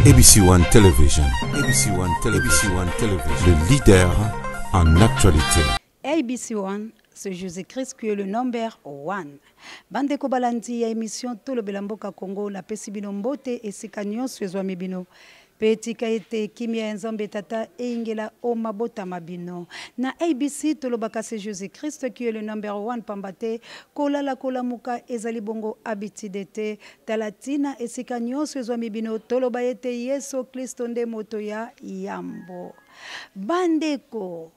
ABC One Television. ABC One Television. ABC One Television. Le leader en actualité. ABC One, c'est Jésus-Christ qui est le number one. Bande Kobalandi, ya émission Tolo Belamboka Congo, la Pesibino Mbote et Sikanyon Suezwami Bino. mpe tika ete kimia ya nzambe tata eyingela o mabota ma bino na abc tolobaka se jésus christ qui est le number one pamba te kolala kolamuka ezali bongo habitude te Tala ntina esika nyonso ezwami bino toloba ete Yesu Klisto nde moto ya yambo. Bandeko,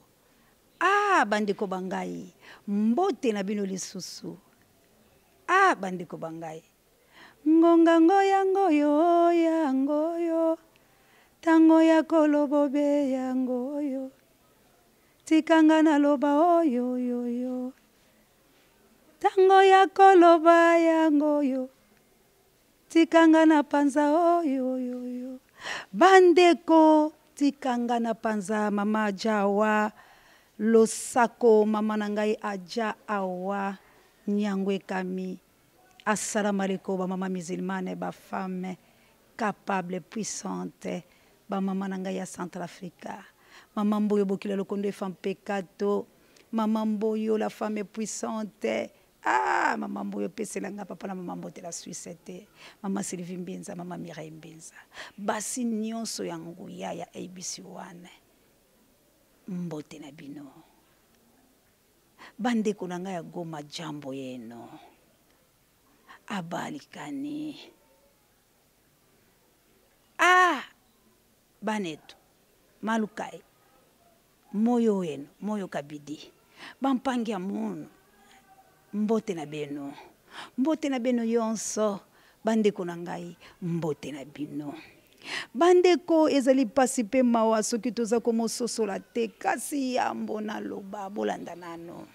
ah bandeko ba ngai, mbote na bino lisusu. Ah bandeko ba ngai, ngonga ngo yango yo, yango yo, tango ya kolobobe yango yo, tikanga na loba oyo yo yo. Tango ya koloba yango oyo tika nga na panza oyoyoyo oh, bandeko tika nga na panza mama aja awa losako mama na ngai aja awa nyango ekami Assalamu alaikum ba maman musulmane ba femme capable puissante ba maman na ngai ya Central Africa maman Mboyo Bokila Lokondo et femme peccato maman Mboyo la femme puissante ah maman Mboyo pesela nga papa na maman Mbote la Suisse te maman Sylvie Mbinza maman Mireille Mbinza basi nyonso ya nguya ya ABC1 mbote na bino Bandeko na ngai ya Goma, jambo yenu, abalikani ah banetu malukai moyo wenu moyo kabidi bampangi ya munu mbote na bino mbote na bino yonso bandeko na ngai mbote na bino Bandeko, ezali mpasi mpe mawa soki toza komososola te, kasi yambo naloba, bolanda nano.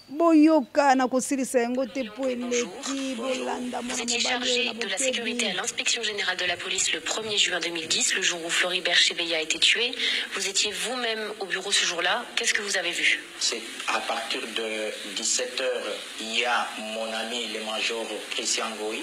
boyoka na kosilisa yango te mpo eleki bolanda mwana mobali na bokebi à l'inspection générale de la police le 1er juin 2010 le jour où Floribert Chebeya a été tué vous étiez vous-même au bureau ce jour-là qu'est-ce que vous avez vu c'est à partir de 17h il y a mon ami le major Christian Goy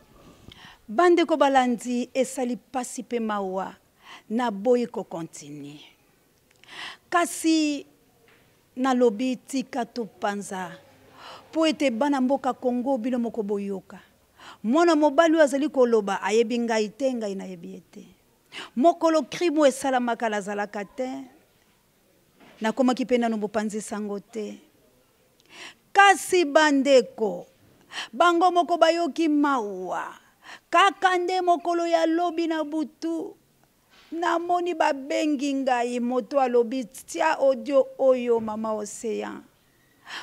Bandeko balandi esali pasi pe mawa na boyi ko continue kasi na lobi tika to panza po ete bana mboka Congo bino moko boyoka mwana mobali oyo azali koloba ayebi ngai te ngai nayebi ye te mokolo crime oyo esalamaka nazalaka te Nakomaki mpe nano bopanzi sango te. Kasi bandeko, bango moko bayoki mawa. Kaka nde mokolo ya lobi na butu, namoni babengi ngai, moto alobi, Tia audio oyo, Mama Ocean.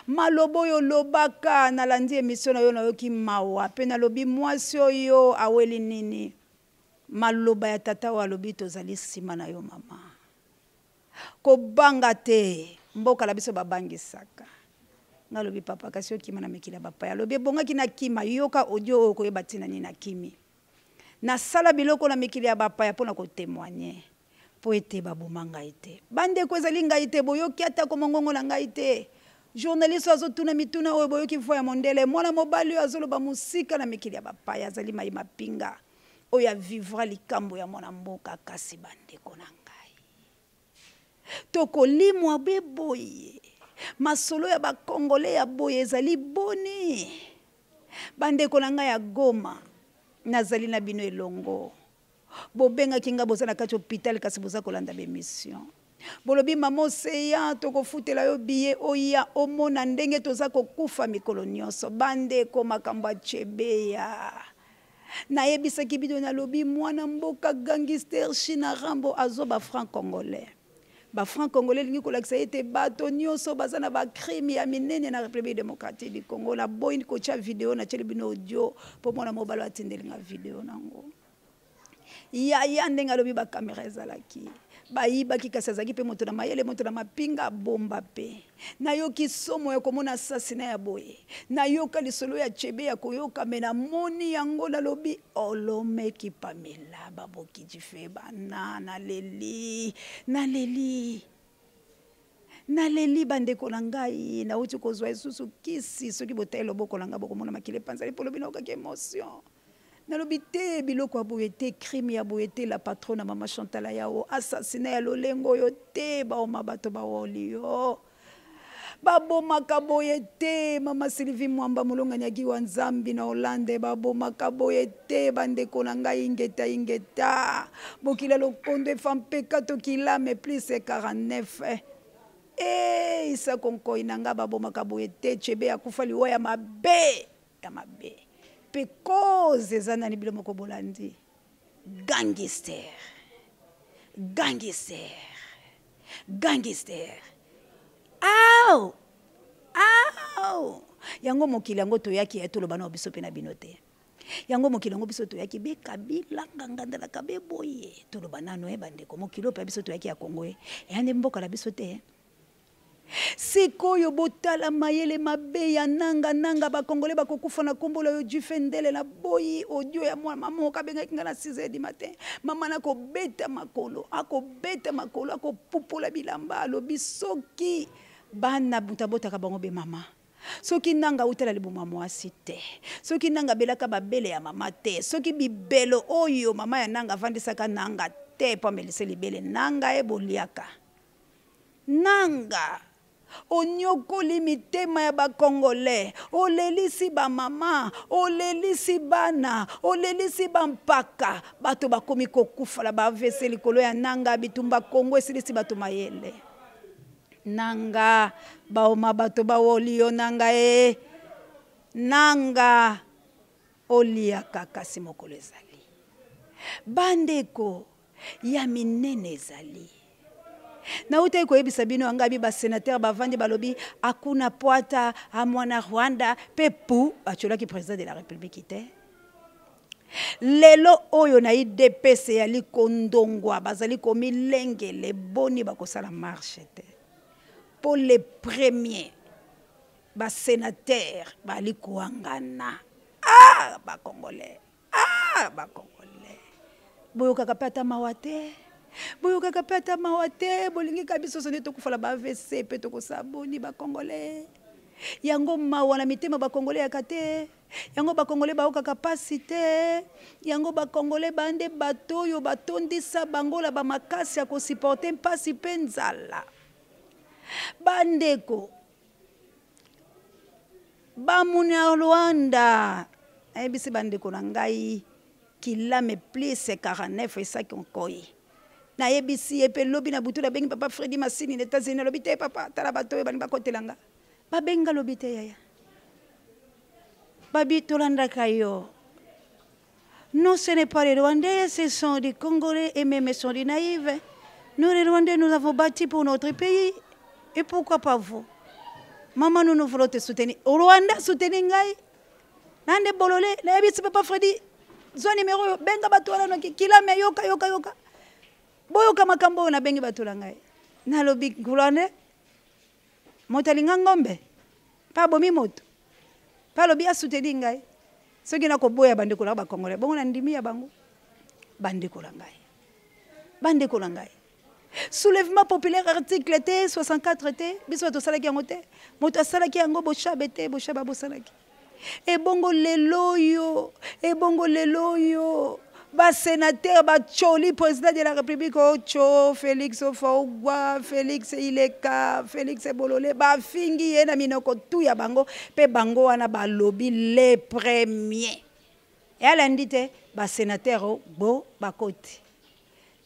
Maloba oyo olobaka, nalandi emission na yo, nayoki mawa, mpe nalobi, Mwasi oyo aweli nini? Maloba ya tata oyo alobi tozali sima na yo mama. Kobanga te, mboka na biso babangisaka. Nga lobi papa kasi okima na mikili ya bapaya. Alobi ebongaki na kima, yoka audio oyo koyeba tina nini na kimi. Nasala biloko na mikili ya bapaya pona ko temoigner. mpo ete baboma ngai te. Bandeko, ezali ngai te, boyoki atako mongongo na ngai te. Journaliste oyo azotuna mituna oyo, boyoki voix ya mondele. Mwana mobali oyo azoloba mosika na mikili ya bapaya, azali mayi mapinga oyo a vivra likambo ya mwana mboka. Kasi bandeko na ngai, tokolimwa be boye? Masolo ya ba Congolais ya boye ezali boni? Bandeko na ngai ya Goma, nazali na bino elongo. bobengaki nga boza na kati hôpital kasi boza kolanda ba émission bolobi mama oseya tokofutela yo biye oya omona ndenge toza kokufa mikolo nyonso bandeko makambo achebeya nayebisaki bino nalobi mwana mboka gangister china rambo azo ba franc congolais ba franc congolais elingi kolakisa ete bato nyonso baza na bacrime ya minene na république démocratique du congo naboyi kotya video natyeli bino audio mpo mwana mobalo atindeli nga video nango yaya ndenge alobi bakamera ezalaki bayibaki kasi azalaki mpe moto na mayele moto na mapinga bomba mpe nayoki somo ya komona asasina ya boye nayoka lisolo ya chebe ya koyoka me namoni yango nalobi olomeki pamela baboki jife bana naleli naleli naleli bandeko na ngai nauti kozwa lisusu kisi soki botai loboko na ngai bokomona makili epanzani mpo lobi naokaki emotion nalobi te biloko ya boye te crime ya boye te la patrona mama chantala yao assassina ya lolengo oyo te baoma bato baolio babomaka boye te mama sylvie mwamba molongani ya giwa nzambi na hollande babomaka boye te bandeko na ngai ingeta ingeta bokila lokondo efa mpeka tokilame plus 49 e isa konkoi na ngai babomaka boye te chebe akufa liwa ya mabe ya mabe mpe cause eza nani bino moko bolandi gangster gangster gangster au au yango mokili yango toyaki ya toloba na biso mpe na bino te yango mokili yango biso toyaki be kabila ngangandalaka be boye toloba nano ye eh, bandeko mokili oyo mpe biso toyaki ya kongo ye eh. eya nde mboka na biso te eh. Sikoyo botala mayele mabe ya nanga nanga ba congolais bakokufa na kombo na yo Jufe Ndele na boyi audio ya mwana maman moko abengaki nga na 6 heures du matin maman ako beta makolo ako beta makolo ako pupola bilamba alobi soki bana mutu abotaka bango be maman soki nanga auta na libumu ya mwasi te soki nanga abelaka babele ya mama te soki bibelo oyo mama ya nanga avandisaka nanga te mpo amelise libele nanga ye boliaka Nanga. Oniokoli mitema ya ba congolais, olelisi ba mama, olelisi bana, olelisi ba mpaka, bato bakomi kokufa na ba avc likolo ya nanga, bitumba congo esilisi bato mayele. Nanga. Baoma bato bawoli yo nangaee. Nanga. Oliaka kasi mokolo ezali. Bandeko. ya minene ezali nautaki koyebisa bino angabi basenatere bavandi balobi akuna pwata amwana rwanda mpe pu batyolaki président de la république te lelo oyo na idps eyali kondongwa bazali komilengele boni bakosala marche te mpo le premier basenatere bali koangana ah bakongolais ah ba congolais boyokaka pe ata mawa te boyokaka pe ata mawa te bolingi ka biso sonde tokufala ba avc pe tokosala boni ba congolais yango mawa na mitema ba congolais yaka te yango bakongole baokaka mpasi te yango bakongole bande bato oyo batondisa bango na bamakasi ya kosiporte mpasi mpe nzala bandeko bamunyarwanda nayebisi bandeko na ngai kilame plus 49 esaki onkoi nayebisi ye mpe lobi na butu nabengi papa fredi masini na etats-unis alobi te papa tala bato oyo balingi bakotela nga babenga lobi te yaya babi tolandaka yo Non, ce n'est pas les Rwandais, ce sont des Congolais et même sont des naïves. Nous, les Rwandais, nous avons bâti pour notre pays. Et pourquoi pas vous Maman, nous, nous voulons te soutenir. Au Rwanda, soutenir Ngai. Nande Bolole, Nayabi, c'est pas Freddy. Zwa numéro, benga bato wana noki, kilame, yoka, yoka, yoka. Boyoka makambo oyo nabengi bato na ngai. Nalobi, Rwandais, moto alinga ngombe mpe abomi moto mpe alobi asuteli ngai soki nakoboya bandeko na bakongole bongo na ndimi ya bango bandeko na ngai bandeko na ngai soulèvement populaire article te 64 te biso bato osalaki yango te moto asalaki yango boshabe te boshaba bosalaki ebongo lelo oyo ebongo lelo oyo basenatere bacoli président de la république oco oh, félix ofaogwa félix ileka félix bolole bafingi ye na minoko tu ya bango mpe bango wana balobi le premier eyalandi te basenatere bo bakoti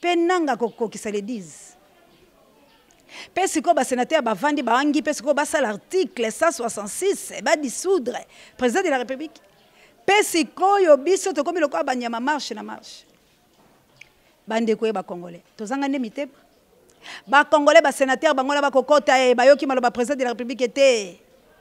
Pe nanga kokokisa le 10. Pe sikoyo ba senateurs bavandi baangi pe sikoyo basala article 166 ba dissoudre president de la republique. Pe sikoyo biso tokomi lokola banyama marche na marche. Bandeko ye bakongole tozanga nde mitema bakongole basenatere bango na bakokota ye bayoki maloba president de la republique te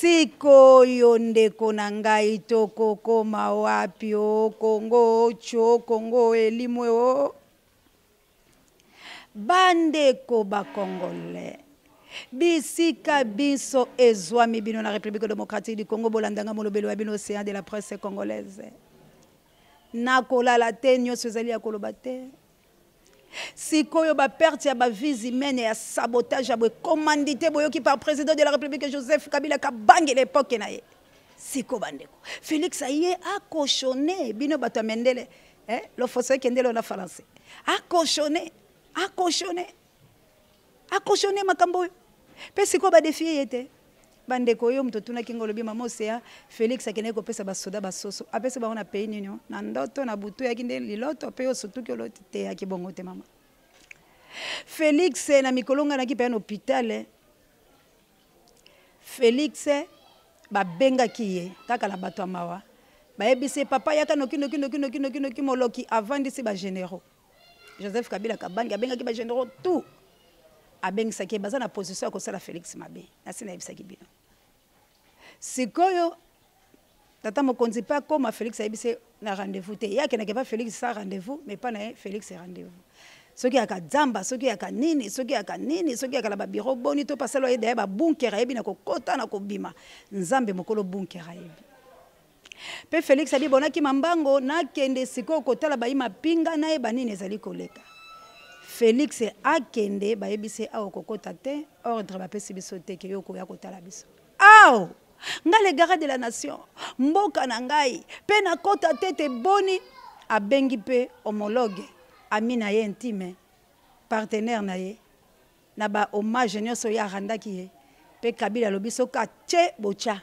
sikoyo ndeko na ngai tokokoma wapi o oh, kongo oco oh, kongo oh, elimwe o bandeko bakongole bisika binso ezwami bino na république démocratique du congo bolandanga molobelo ya bino océan de la presse congolaise nakolala te nyonso ezali ya koloba te Sikoyo ba perte ya ba vies humaines ya sabotage ya boye commandite boyoki par president de la republique Joseph Kabila Kabange na epoque na ye siko bandeko Felix aye akoshone bino bato ya mendele eh, lofoso ekende lona falanse akoshone akoshone a cautionne makambo oyo mpe sikoyo badefie ye te bandeko yo moto otunaki ngo olobi mama osea félix akendaki kopesa basoda basoso apesi bango na pays nini na ndoto na butu eyaki nde liloto mpe osutuki oloti te eyaki bongo te mama félix na mikolo ngai naki mpeya na hôpital eh. félix eh, babengaki ye kaka na bato ya mawa bayebisi ye papa yaka noki noki noki noki noki noki moloki avandisi bagénéraux joseph kabila kabange abengaki bagenero tout abengisaki baza na position ya kosala félix mabe nasi nayebisaki bino sikoyo tata mokonzi mpe akoma félix ayebisi na rendez-vous te ye akendaki epa félix sa rendez-vous mais epa na ye félix rendez-vous soki yaka zamba soki yaka nini soki yaka nini soki yaka na babiro boni to pasalo aye daye babunker ayebi na kokota na kobima nzambe mokolo bunker ayebi Mpe Felix adi bonakima mbango nakende sikoyo kotala bayi mapinga nayeba nini ezali koleka. Felix akende bayebisi awa kokota te ordre bapesi biso te ke yo koya kotala biso. Aw! Nga le gara de la nation mboka na ngai mpe nakota te te boni abengi mpe homologue ami na ye intime partenaire na ye na ba hommage nyonso ye arandaki ye mpe Kabila alobi soki atye botya.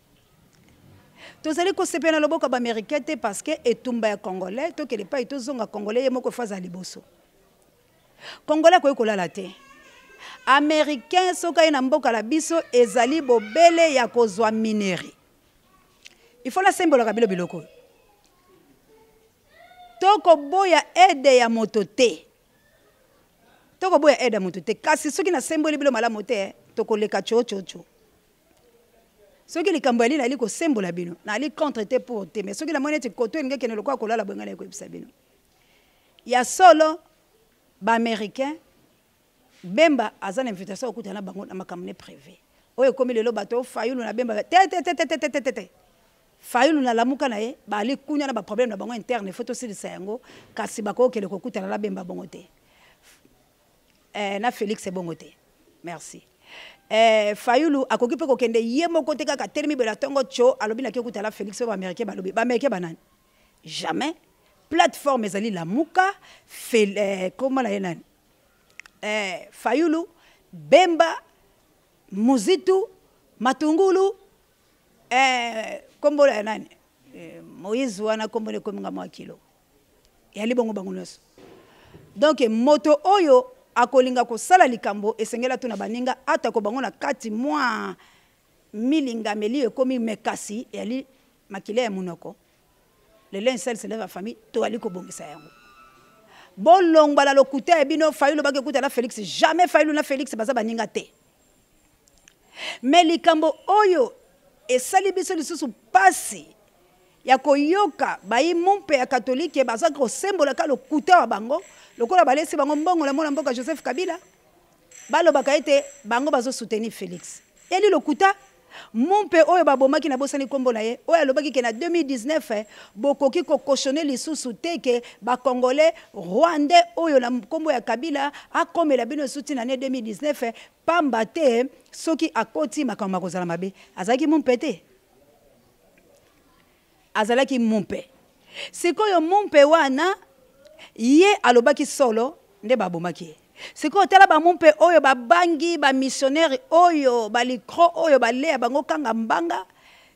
tozali kosepela na loboko ya baamericain te parce que etumba ya congolais tokende epai tozonga congolais ye moko efa azala liboso congolais akoki kolala te américain soki aye na mboka na biso ezali bobele ya kozwa minerie il faut nasembolaka bino biloko oyo tokoboya aide ya moto te tokoboya aide ya moto te kasi soki nasemboli bino malamu te tokoleka cococo soki likambo yali nali kosembola bino nali contre te pour te mais soki namoni ete koto elingi ekende lokola kolala boye ngai nali koyebisa bino ya solo baaméricain bemba aza na invitation okuta na bango na makambo ne privé oyo ekomi lelo bato fayulu na bemba tetetetetetetete fayulu na lamuka na ye bali kuna na baproblème na bango interne fo tosilisa yango kasi bakokele kokutana na bemba bongo te eh, na felix ebongo te merci eh, fayulu akoki mpe kokende ye moko te kaka telemi bela ntongo tso alobi nake okutala felix mpe baaméricain balobi baaméricain banani jamais plateforme ezali lamuka fel, eh, koma na ye nani eh, fayulu bemba muzitu matungulu eh, kombola ya nani eh, moise wana kombo nekominga mwa kilo eyali bongo bango nyonso donc moto oyo akolinga kosala likambo esengeli atuna baninga atako bango na kati mwa milingameli ekomi mekasi eyali makila ya monoko le linge sale se lève en famille toyali kobongisa yango bolongwa na lokuta ya bino fayulu bakekuta na felix jamais fayulu na felix baza baninga te me likambo oyo esali biso lisusu mpasi ya koyoka bayi mumpe ya katolike bazalaki kosembolaka lokuta wa bango lokola balesi bango mbongo na mwana mboka joseph kabila balobaka ete bango bazosuteni felix eli lokuta Mumpe oyo babomaki nabosani kombo na ye oyo alobaki ke na 2019 eh, bokoki ko cautionner lisusu te ke ba congolais rwandais oyo na kombo ya Kabila akomela bino lisusu ti na annee 2019 eh, pamba te soki akoti makambo makozala mabe. Azalaki mumpe te? azalaki mumpe sikoyo mumpe wana ye alobaki solo nde babomaki ye sikoyo tala bamumpe oyo babangi bamisionere oyo balikro oyo baleya bango kanga mbanga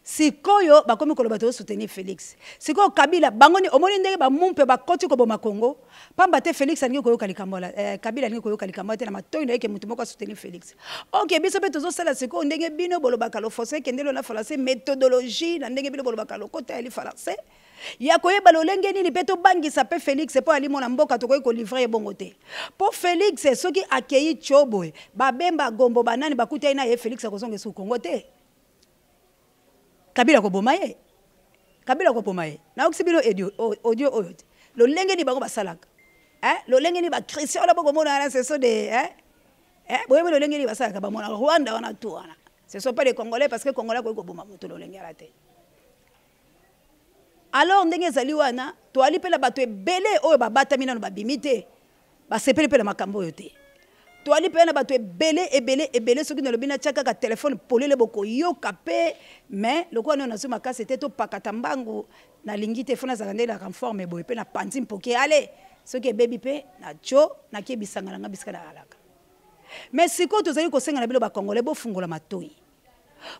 sikoyo bakomi koloba tozosoutenir felix sikoyo kabila bango ni omoni ndenge bamumpe bakoti koboma congo pamba te Felix alingi koyoka likambo la eh, Kabila alingi koyoka likambo te na matoyi na ye ke moto moko asoutenir Felix. Ok biso pe tozo sala sikoyo ndenge bino bolobaka lo français kendelo na français methodologie na ndenge bino bolobaka lokota ya li français ya koyeba lolenge nini mpe tobangisa mpe felix mpo alimo na mboka tokoki kolivre ye bongo te mpo felix soki akei tio boye babemba gombo banani bakutai na ye felix akozonga esu kongo te Kabila koboma ye kabila koboma ye nayokisi bino audio audio oyo te lolenge nini bango basalaka eh, lolenge nini bachristien wana bokomona wana ce sont des eh, eh, boyebi lolenge nini basalaka bamona rwanda wana tu wana ce sont pas des congolais parce que congolais akoki koboma moto lolenge wana te alors ndenge ezali wana toali mpe na bato ebele oyo babatami nano babimi te basepeli mpe na makambo oyo te toali mpe na bato ebele ebele ebele soki nalobi natya kaka telefone polele bokoyoka mpe mais lokola nao nazwi makasi te topakata mbangu nalingi te fo nazala nde na conforme boye mpe napanzi mpoke ale soki ebebi mpe na jo nakie bisanga na ngai bisika nalalaka me sikoyo tozali kosenga na bino bakongole bofungola matoi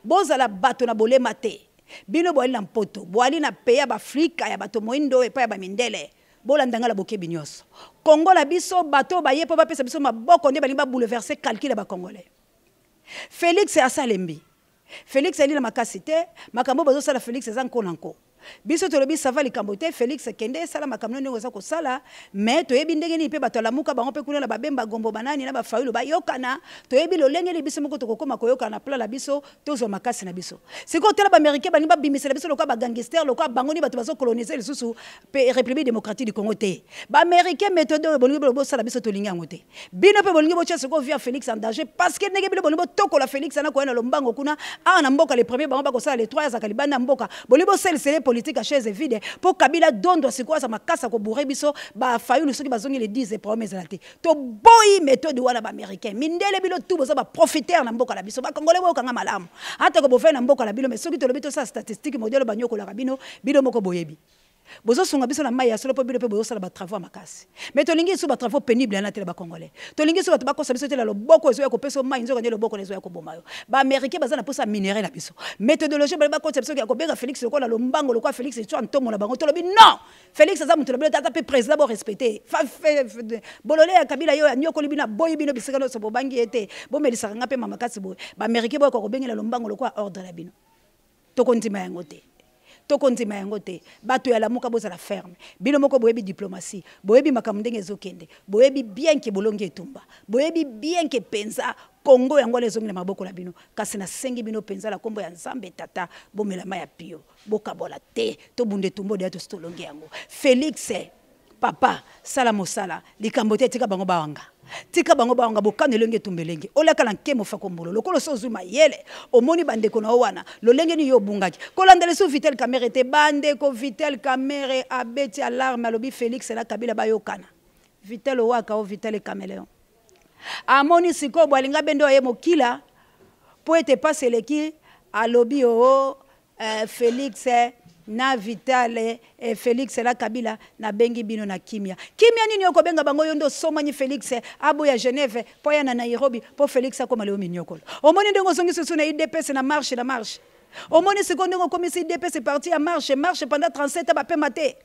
bozala bato na bolema te bino boali na mpoto boali na peya baafrika ya bato moindo epai ya bamindele bolanda nga na bokebi nyonso congo na biso bato oyo baye mpo bapesa biso maboko nde balingi babouleverse calcul ya bacongolais félix asalembi félix ayeli na makasi te makambo oyo bazosala félix eza nko na nko biso tolobi sava likambo te félix kende sala makambo ndenge oza kosala me toyebi ndenge nini mpe bato alamuka bango mpe kuna na babemba gombo banani na bafayulu bayokana toyebi lolenge nini biso moko tokokoma koyokana na plan na biso tozwa makasi na biso sikoyo tala baaméricain balingi babimisela biso lokola bagangister lokola bango nini bato bazokolonise lisusu pe République démocratique du Congo te. Ba Américains méthode oyo bolingi bolobo sala biso tolingi yango te. Bino pe bolingi botia soko vie ya Felix en danger parce que ndenge bino bolingi botokola Felix na koya na lombango kuna awa na mboka le premier bango bakosala le trois azalaka libanda ya mboka bolingi bosalisa ye politique ya chaise vide po Kabila dondwa sikoyo aza makasi ya ko bourrer biso ba Fayulu soki bazongi le 10 problème ezala te. Toboyi methode wana ba Americains. Mindele bino tout boza ba profiteurs na mboka na biso. Ba Congolais boyoka nga malamu. Atako bovandi na mboka na bino mais soki tolobi tosala statistique modi aloba anyokolaka bino, bino moko boyebi. bozosunga biso na mai ya solo mpo bino mpe bozosala batravau ya makasi mai tolingi lisusu batravau pénible yana te na bacongolais tolingi lisusu bato bakosa biso te na loboko ezoya kopesa yo mai nzoka nde loboko na ezoya koboma yo baaméricain baza na mposa ya minere na biso méthodologie bale bakotisa biso ya kobenga félix lokola lombango lokola félix itswa ntomo na bango tolobi non félix aza moto na bino te aza mpe président borespecte bolole ya kabila yo anyokoli bino aboyi bino bisika nyonso bobangi ye te bomelisaka ngai mpe mamakasi boye baaméricain boyoka kobengela lombango lokola ordre na bino tokondima yango te tokondima yango te bato ya lamuka bozala ferme bino moko boyebi diplomatie boyebi makambo ndenge ezokende boyebi bien ke bolongi etumba boyebi bien ke mpenza kongo yango wana ezongi na maboko na bino kasi nasengi bino mpenza na nkombo ya nzambe tata bomelama ya pio bokabola te tobunda etumba odeya tosi tolongi yango felix papa sala mosala likambo te tika bango bawanga tika bango bawanga bokano elenge etumba elenge olaka na nkemo fakombolo lokola osi ozwi mayele omoni bandeko na yo wana lolenge nini yo obungaki kolanda lisu vitel kamere te bandeko vitel kamere abeti alarme alobi félix na kabila bayokana vitel owaka o vitel cameleon amoni sikoyo bwalinga bende oye mokila mpo ete mpasi eleki alobi oo oh, Eh, Felix eh, na Vital eh, eh, Felix la Kabila na bengi bino na kimia. Kimia nini yoko benga bango yondo somani Felix eh, abo ya Genève po ya na Nairobi po Felix akoma leo minyokolo. Omoni ndenge ozongi susu na UDPS na marche na marche. Omoni siko ndenge okomisi UDPS parti ya marche marche pendant 37 ba pema te.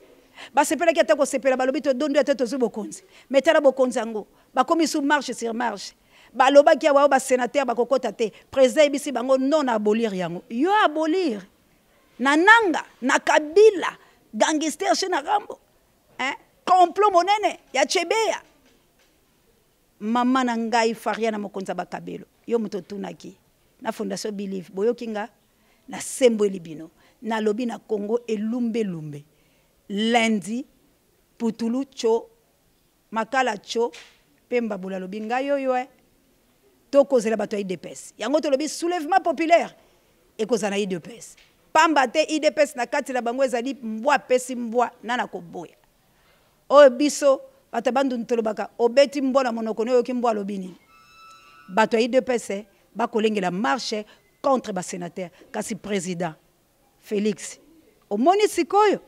Basepelaki ata kosepela balobi to dondo ata tozui bokonzi. Metala bokonzi yango. Bakomi sous marche sur marche. Balobaki awa ba senateur bakokota te. President ayebisi bango non na abolir yango. Yo abolir na Nanga, na Kabila, gangster chez na Rambo. Hein? Complot monene ya Chebeya. Mama na ngai Fariana mokonzi ya bakabelo. Yo moto otunaki na Fondation Believe boyoki nga na sembweli bino. Nalobi na Congo elumbe lumbe. Lundi putulu cho Makala Cho pe Mbabula alobi ngai yo yo eh. To kozela bato ya udps. Yango tolobi soulevement populaire ekozala na udps. Pamba te udps na kati na bango ezali mbwa apesi mbwa nani akoboya. Oyo biso bato ya Bandundu tolobaka obeti mbwa na monoko ne oyoki mbwa alobi nini. Bato ya udps ba kolengela marche contre ba senateurs kasi president Felix omoni sikoyo?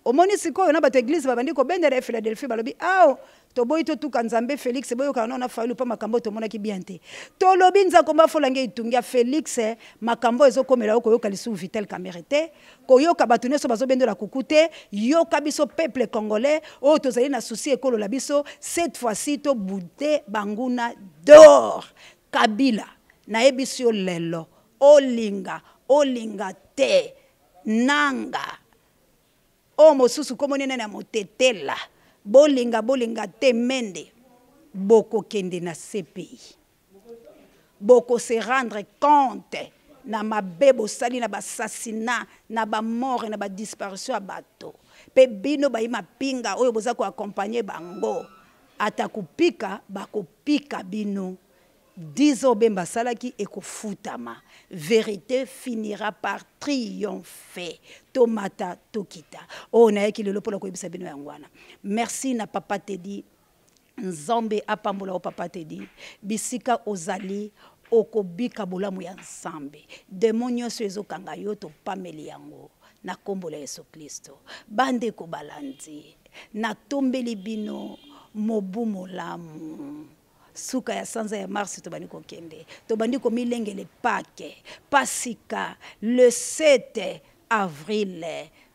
Omoni sikoyo na bato ya eglise babandi kobendela ye Philadelphie balobi ao toboyi totuka Nzambe Felix boyokana nao na Fayulu mpo makambo oyo tomonaki bien te tolobi Nzakomba afolange itungia Felix makambo oyo ezokomela yo koyoka lisusu Vital Kamerhe te koyoka bato nyonso bazobendola kuku te yoka biso peuple congolais oyo tozali na souci ekolola biso cette fois-ci tobude banguna dehors Kabila nayebisi yo lelo olinga olinga te Nanga. Oyo oh, mosusu kombo nene na motetela. Bolinga bolinga te mende. Bokokende na CPI. Boko se rendre compte na mabe bosali na bassassinat na bamort na badisparition ya bato mpe bino bayi mapinga oyo boza koakompagne bango ata kopika bakopika bino 10 ans Bemba asalaki ekofutama. Verite finira par triompher. Tomata tokita. Oyo nayaki lelo pona koyebisa bino yango wana. Merci na papa Teddy. Nzambe apambola o papa Teddy. Bisika ozali okobika bolamu ya Nzambe. Demon nyonso ezokanga yo topameli yango na kombo la Yesu Klisto. Bande ko balandi. Natombeli bino mobu molamu. suka ya sanza ya mars tobandi kokende tobandi komilengele pake pasika le 7 avril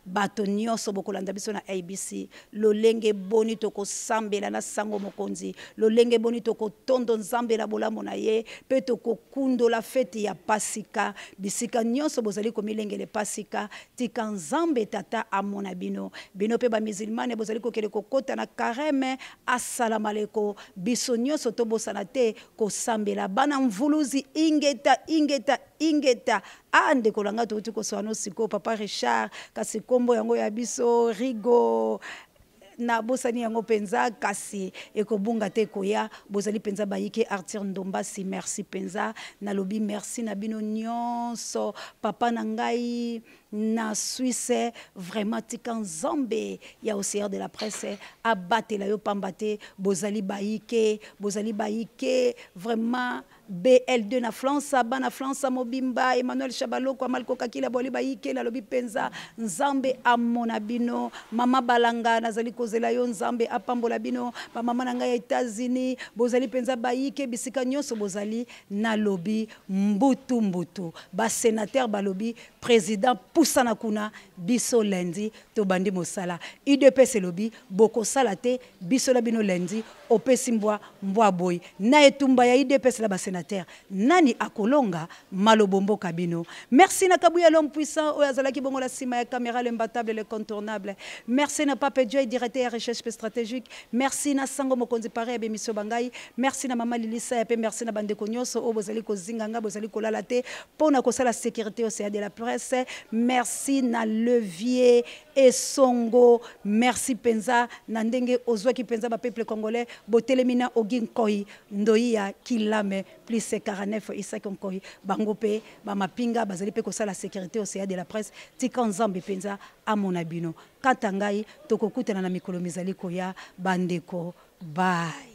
bato nyonso bokolanda biso na abc lolenge boni tokosambela na sango mokonzi lolenge boni tokotondo nzambe na bolamu na ye mpe tokokundola feti ya pasika bisika nyonso bozali komilengele pasika tika nzambe tata amona bino bino mpe bamizilmane bozali kokende kokota na kareme Assalamaleko biso nioso to bosana te ko sambela bana mvuluzi ingeta ingeta ingeta ah ndeko na nga touti kosoa no sikoyo papa Richard kasi kombo yango ya biso rigo na bosani yango penza kasi ekobunga te koya bozali penza bayike Arthur Ndombasi merci penza nalobi merci na bino nionso papa na ngai na suisse vraiment tika nzambe ya ocean de la presse abatela yo pamba te bozali bayike bozali bayike vraiment BL2 na France, bana France mobimba, Emmanuel Chabaloko, Amalko Kakila, Boli Bayike, nalobi penza, Nzambe amona bino, mama Balanga, nazali kozela yo, Nzambe apambola bino, ba mama na ngai ya Etats-Unis, bozali penza Bayike, bisika nyonso bozali, nalobi mbutu mbutu, ba senateur balobi, President pusana kuna biso lundi tobandi mosala udps elobi bokosala te biso na bino lundi opesi mbwa mbwa aboyi na etumba ya udps na ba senateur nani akolonga malobo mboka bino merci na kabuya l'homme puissant oyo azalaki bongo na sima ya camera le mbatable le contournable merci na pape joy directeur ya recherche pe stratégique merci na sango mokonzi pare ya bemission bangai merci na mama lilisa ya pe merci na bandeko nyonso oyo bozali kozinga ngai bozali kolala te mpo na kosala securite yose ya de la presse merci na levier esongo merci mpenza na ndenge ozwaki mpenza bapeuple congolais botelemi na ogi nkoi ndoi ya kilame plus 49 isaki nkoi bango mpe bamapinga bazali mpe kosala securite yose ya de la presse tika nzambe mpenza amona bino kata ngai tokokutana na mikolo mizali koya bandeko bai